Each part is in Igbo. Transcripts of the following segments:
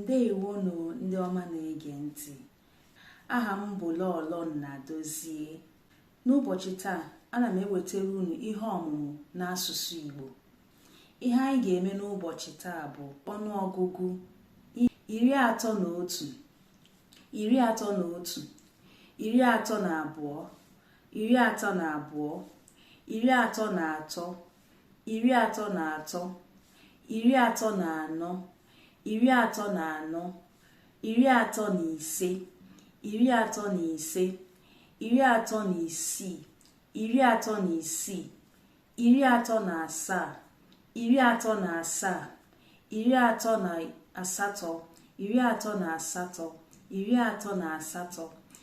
ndewonụ ndị ọma na-ege ntị aha m bụ Lọlọ Nnadozie n'ụbọchị taa ana m ewetara unu ihe ọmụmụ n'asụsụ Igbo ihe anyị ga-eme n'ụbọchị taa bụ ọnụọgụgụ iri atọ na otu iri atọ na otu iri atọ na abụọ iri atọ na abụọ iri atọ na atọ iri atọ na atọ iri atọ na anọ iri atọ na anọ iri atọ na ise iri atọ na ise iri atọ na isii iri atọ na isii iri atọ na asaa iri atọ na asaa iri atọ na asatọ iri atọ na asatọ iri atọ na asatọ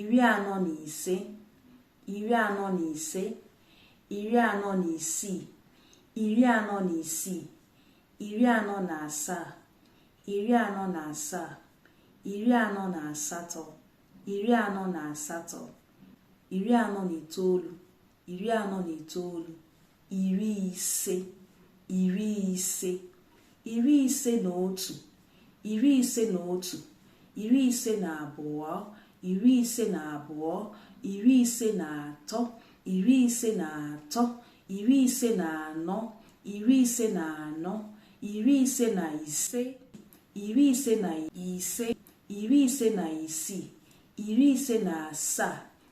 iri anọ na ise iri anọ na ise iri anọ na isii iri anọ na isii iri anọ na asaa iri anọ na asaa iri anọ na asatọ iri anọ na asatọ iri anọ na itoolu iri anọ na itoolu iri ise iri ise iri ise na otu iri ise na otu iri ise na abụọ iri ise na abụọ iri ise na atọ iri ise na atọ iri ise na anọ iri ise na anọ iri ise na ise iri ise na ise iri ise na isii iri ise na asaa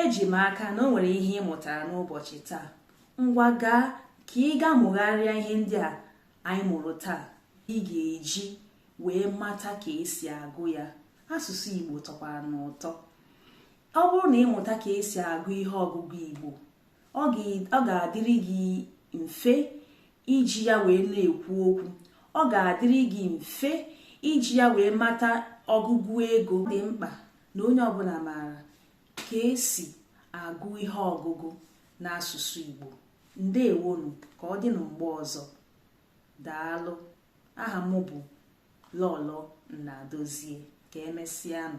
eji m aka na o nwere ihe ị mụtara n'ụbọchị taa ngwa gaa ka ị gaa mụgharịa ihe ndị a anyị mụrụ taa ị ga-eji wee mata ka esi agụ ya asụsụ Igbo tọkwara n'ụtọ ọ bụrụ na ị mụta ka esi agụ ihe ọgụgụ Igbo ọ ga-adịrị gị mfe iji ya wee na-ekwu okwu ọ ga-adịrị gị mfe iji ya wee mata ọgụgụ ego dị mkpa na onye ọbụla maara ka esi agụ ihe ọgụgụ n'asụsụ Igbo ndewonụ ka ọ dị na mgbe ọzọ daalụ aha m bụ Lọlọ Nnadozie ka emesịanụ